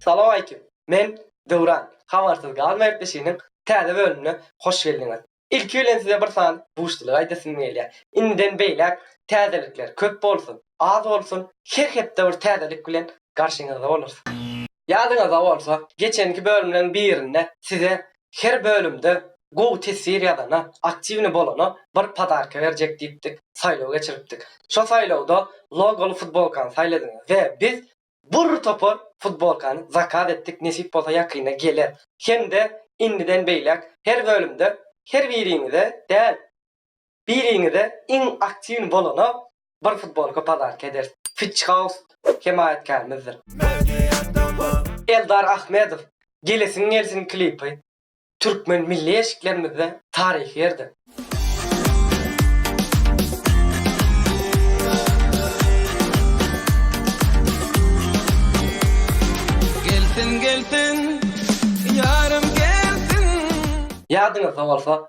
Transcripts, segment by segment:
Salowmaýkim! Men Döwran. Habarsyz galma gepleşiginiň täze bölümine hoş geldiňiz. Ilki bilen size bir sany buşlygy aýdasym gelýär. Indiden beýläk täzelikler köp bolsun, az bolsun, her hepde bir täzelik bilen garşyňyzda bolarys. Ýadyňyzda bolsa, geçenki bölümleriň birinde size her bölümde gowy teswir ýazana, aktiwnyý bolana bir podarka berjek diýipdik, saýlaw geçiripdik. Şo saýlawda logoly futbolkany saýladyňyz we biz bir topar futbolkany zakaz etdik, nesip bolsa ýakynda geler. Hem-de indiden beýläk her bölümde her biriňize däl, Biriňize iň aktiwny bolana bir futbolka pazarka ederis. Fitch House hemaýatkärmizdir. Eldar Ahmedow Gelesiň gelsin klipy türkmen milli eşiklerimizde taryhy ýerde. Gelsin gelsin ýarym gelsin. Ýadyňyzda bolsa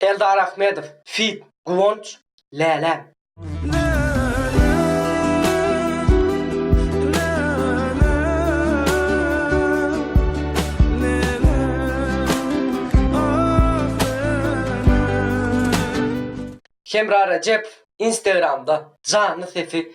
Eldar Ahmedow feat. Guwanç, Läläm. Hemra Rejepow Instagramda janly sesi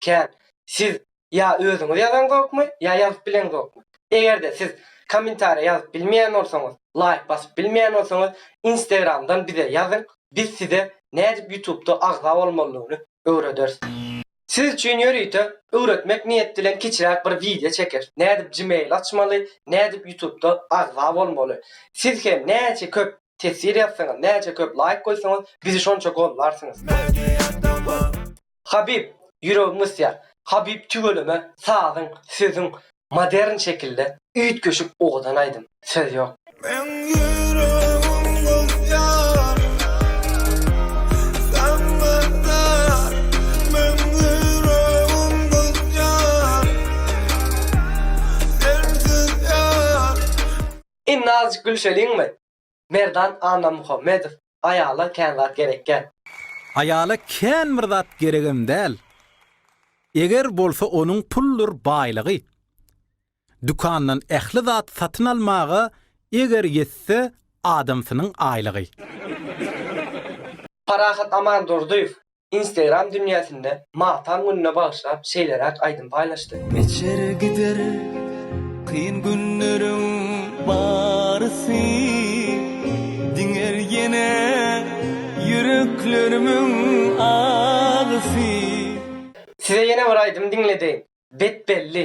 Kän. Siz ýa özüňiz ýazaňzokmy, ýa ýazyp bileňzokmy? Eger-de siz kommentariýa ýazyp bilmeýän bolsaňyz, laýk basyp bilmeýän bolsaňyz, Instagramdan bize ýazyň, biz size nädip Ýutubda agza bolmalydygyny öwrederis. Siz üçin ýörite öwretmek niýet bilen kiçiräk bir wideo çekeris, nädip Gmail açmaly, nädip Ýutubda agza bolmaly. Siz hem näçe köp Teswir ýazsaňyz, näçe köp laýk goýsaňyz, bizi şonça gollarsyňyz. Habib, ýüregim ysýar. Habib tüweleme sazyň, sözüň modern şekilde üýtgeşik owadan aýdym. Söz ýok. Meň ýüregim gyzýar saňa zar Meň ýüregim gyzýar sensiz ýar. Indi azjyk gülşeliňmi? Merdan Annamuhammedow, Aýala kän zat gerekkä. Aýala kän bir zat geregem däl. Eger bolsa onuň puldyr baýlygy. Dükandan ähli zat satyn almaga eger ýetse adamsynyň aýlygy. Parahat Amandurdyýew, Instagram dünýäsinde Matan gününe bagyşlap şeýleräk aýdym paýlaşdy. Geçer gider kyn günleriň barysy, Diňer ýene ýüreklerimiň agysy. Size ýene bir aýdym diňledeýin, Bet belli.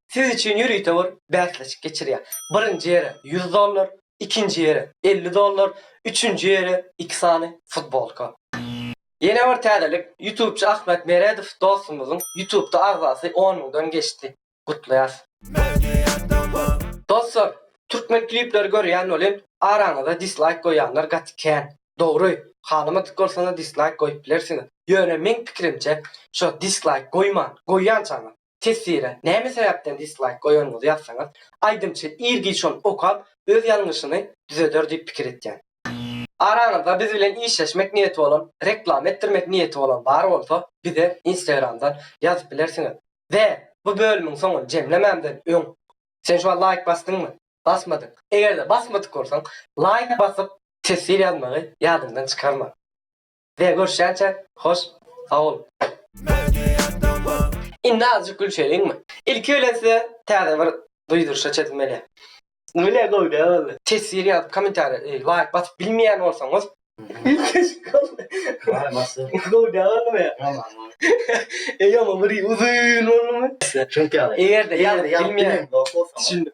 siz üçin ýörite bir bäsleşik geçirýär. Birinji ýere ýüz dollar, ikinji ýere elli dollar, üçünji ýere iki sany futbolka. Ýene bir täzelik, ýutubçy Ahmet Meredow dostumyzyň ýutubda agzasy on müňden geçdi. Gutlaýas! Dostlar, türkmen klipleri görýän welin, araňyzda dislaýk goýýanlar gaty kän. Dogry, halamadyk bolsaňyz dislaýk goýup bilersiňiz. Ýöne meň pikirimçe, şo dislaýk goýman, goýýançaňyz, Teswire näme sebäpden dislaýk goýanyňyzy ýazsaňyz, aýdymçy ir-giç ony okap, öz ýalňyşyny düzeder diýip pikir etýän. Araňyzda biz bilen işleşmek niýeti bolan, reklama etdirmek niýeti bolan bar bolsa, bize Instagramdan ýazyp bilersiňiz. Be, bu bölümiň soňuny jemlemämden öň, sen şuňa laýk basdyňmy? Basmadyň. Eger-de basmadyk bolsaň, laýk basyp, teswir ýazmagy ýadyňdan çykarma. Be görüşýänçä hoş sagbol. Indi azjyk gülşeliňmi. Ilki bilen size täze bir duýduryşa çözülmeli. Bile gowja boldy. Teswir ýazyp komentariýa e laýk basyp bilmeýän bolsaňyz. Waý masyn. Gowja boldumy. Ýaman bir uzyn boldumy. Çünki ýaly. Eger-de ýazyp bilmeýän. Düşündim.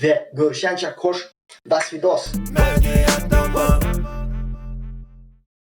we görüşýänçä koş daswidos.